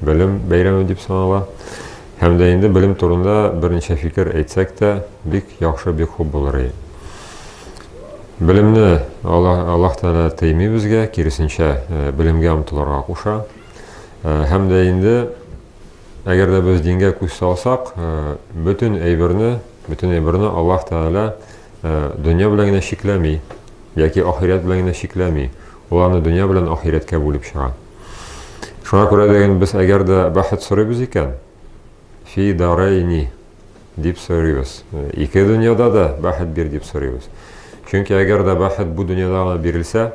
белем бәйрәме дип санала. Һәм дә инде белем турында берничә фикер әйтсәк тә, бик яхшы, бик хуп булыр иде. Белемне Аллаһ, Аллаһ Тәгалә тыймый безгә, киресенчә, э, белемгә омтылырга куша. Э, һәм дә инде әгәр дә без дингә күз салсак, э, бөтен әйберне, бөтен әйберне Аллаһ Тәгалә дөнья белән генә чикләми, яки ахирәт белән генә чикләми. Ул аны дөнья белән ахирәткә бүлеп чыга. Шуңа күрә дә инде без әгәр дә бәхет сорыйбыз икән, фи дарайни дип сорыйбыз. Ике дөньяда да бәхет бир дип сорыйбыз. Чөнки әгәр дә бәхет бу дөньяда гына бирелсә,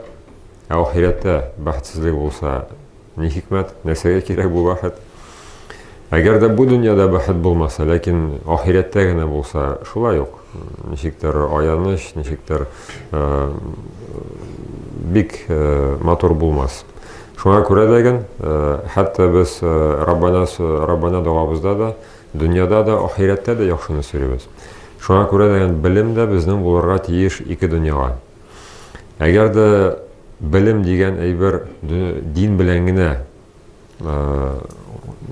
ә ахирәттә бәхетсезлек булса, ни хикмәт, нәрсәгә кирәк бу бәхет? Әгәр дә бу дөньяда бәхет булмаса, ләкин ахирәттә генә булса, шулай ук ничектер аяныч, ничектер э, бик э, матур булмас. Шуңа күрә дә ген, э, хәтта без Раббана Раббана догабызда да, дөньяда да, ахирәттә дә яхшыны сөйлибез. Шуңа күрә дә ген белем дә безнең булырга тиеш ике дөньяга. Әгәр дә белем дигән әйбер дин белән генә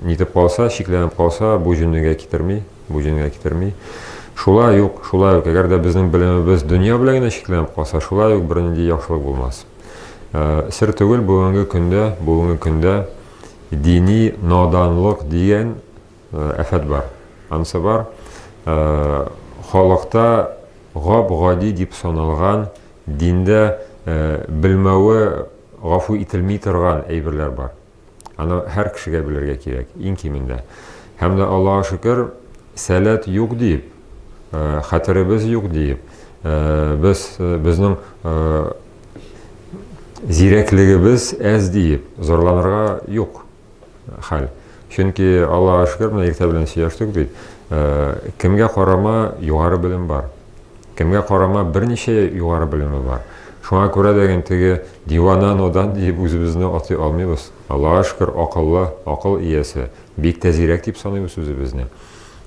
Нитеп калса, шикләнеп калса, бу җөннегә китерми, бу җөннегә китерми. Шулай юк, шулай юк, әгәр дә безнең белемебез дөнья белән генә шикләнеп калса, шулай юк бернинди яхшылык булмас. Э, сер түгел бүгенге көндә, бүгенге көндә дини наданлык дигән э, әфәт бар. Анысы бар. Э, халыкта гап-гади дип саналган Диндә белмәве гафу ителми торган әйберләр бар. Аны һәр кешегә белергә кирәк, иң кимендә. Һәм дә Аллаһ шөкер, сәләт юк диеп, хәтеребез юк диеп, без безнең зирәклегебез әз диеп зарланырга юк. хәл. Чөнки Аллага шөкер, менә иртә белән сөйләштек бит. Э, кемгә карама югары белем бар. Кемгә карама берничә югары белеме бар. Шуңа күрә дә ген теге дивана нодан дип үзебезне атый алмыйбыз. Аллага шөкер, акыллы, акыл иясе, бик тәзирәк дип саныйбыз үзебезне.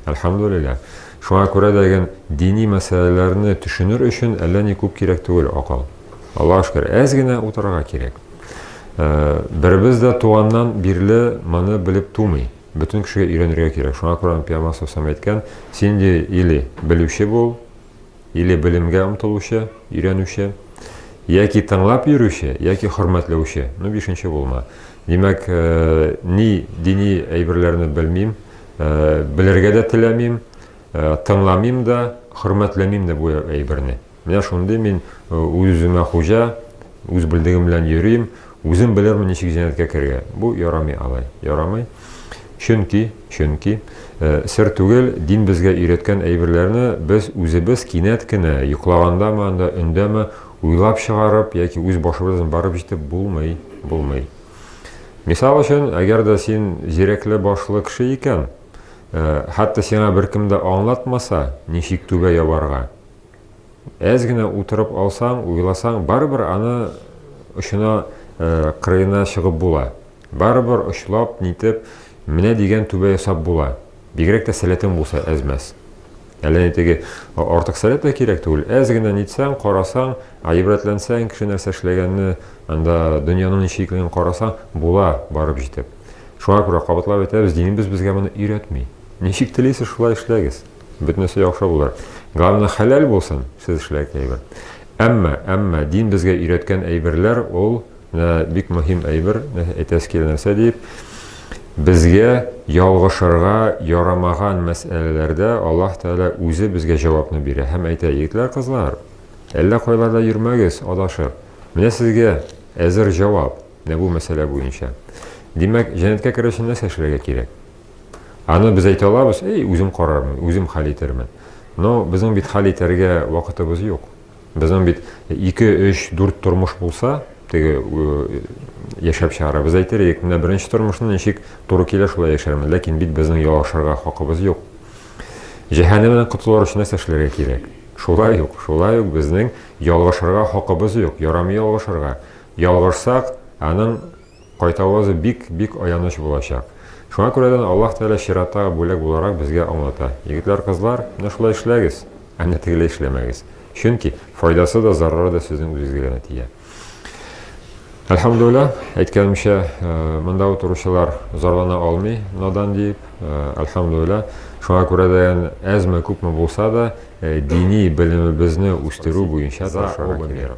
Әлхәмдүлилләһ. Шуңа күрә дә ген дини мәсьәләләрне төшенер өчен әллә ни күп кирәк түгел акыл. Аллаһ шөкер, әз генә утырырга кирәк. Э, беребез дә туганнан бирле моны белеп тумый. Бөтен кешегә өйрәнергә кирәк. Шуңа күрә Пиямас Сусам әйткән, син де или белүче бул, или белемгә омтылучы, өйрәнүче, яки тыңлап йөрүче, яки хөрмәтләүче. Ну, бишенче булма. Димәк, э, ни дини әйберләрне белмим, Белергә дә теләмим, тыңламим да, хөрмәтләмим дә бу әйберне. Менә шундый мин үз-үземә хуҗа, үз белдегем белән йөрим, үзем белермен ничек җәннәткә керергә. Бу ярамый алай, ярамый. Чөнки, чөнки сер түгел, дин безгә өйрәткән әйберләрне без үзебез кинәт кенә йоклагандамы анда өндәме уйлап чыгарып яки үз башыбыздан барып җитеп булмый, булмый. Мисал өчен, әгәр дә син зирәкле башлы кеше икән, э, хәтта сиңа беркем дә аңлатмаса, ничек түбә ябарга. Әз генә утырып алсаң, уйласаң, барыбер аны очына, э, кырыена чыгып була. Барыбер очлап, нитеп, менә дигән түбә ясап була. Бигрәк тә сәләтең булса әз-мәз. Әллә ни теге артык сәләт тә кирәк түгел. Әз генә нитсәң, карасаң, гыйбрәтләнсәң, кеше нәрсә эшләгәнне, анда дөньяның ничек икәнен карасаң, була барып җитеп. Шуңа күрә кабатлап әйтәбез, динебез безгә моны өйрәтми. Ничек телисез, шулай эшләгез. Бөтенесе яхшы булыр. Главное, хәләл булсын, сез эшләгән әйбер. Әмма, әмма дин безгә өйрәткән әйберләр ул Менә бик мөһим әйбер, әйтәсе килә нәрсә диеп, безгә ялгышырга ярамаган мәсьәләләрдә Аллаһ Тәгалә үзе безгә җавапны бирә һәм әйтә, егетләр, кызлар, әллә кайларда йөрмәгез, адашып. Менә сезгә әзер җавап, менә бу мәсьәлә буенча. Димәк, җәннәткә керер өчен нәрсә эшләргә кирәк? Аны без әйтә алабыз, эй, үзем карармын, үзем хәл итермен. Но безнең бит хәл итәргә вакытыбыз юк. Безнең бит ике, өч, дүрт тормыш булса, теге яшәп чыгара. Без әйтер идек, менә беренче тормышны ничек туры килә шулай яшәрмен, ләкин бит безнең ялгышырга хакыбыз юк. Җәһәннәмнән котылыр өчен нәрсә эшләргә кирәк? Шулай ук, шулай ук безнең ялгышырга хакыбыз юк, ярамый ялгышырга. Ялгышсак, аның Кайтавазы бик, бик аяныч булачак. Шуңа күрәдән Аллаһ Тәгалә чираттагы бүләк буларак безгә аңлата, Егетләр, кызлар, менә шулай эшләгез, ә менә тегеләй эшләмәгез. Чөнки, файдасы да, зарары да сезнең үзегезгә генә тия. Әлхәмдулилла, әйткәнемчә, монда утыручылар зарлана алмый, надан диеп, әлхәмдулилла. Шуңа күрәдән әзме, күпме булса да, дини белемебезне үстерү буенча тырышырга кирәк.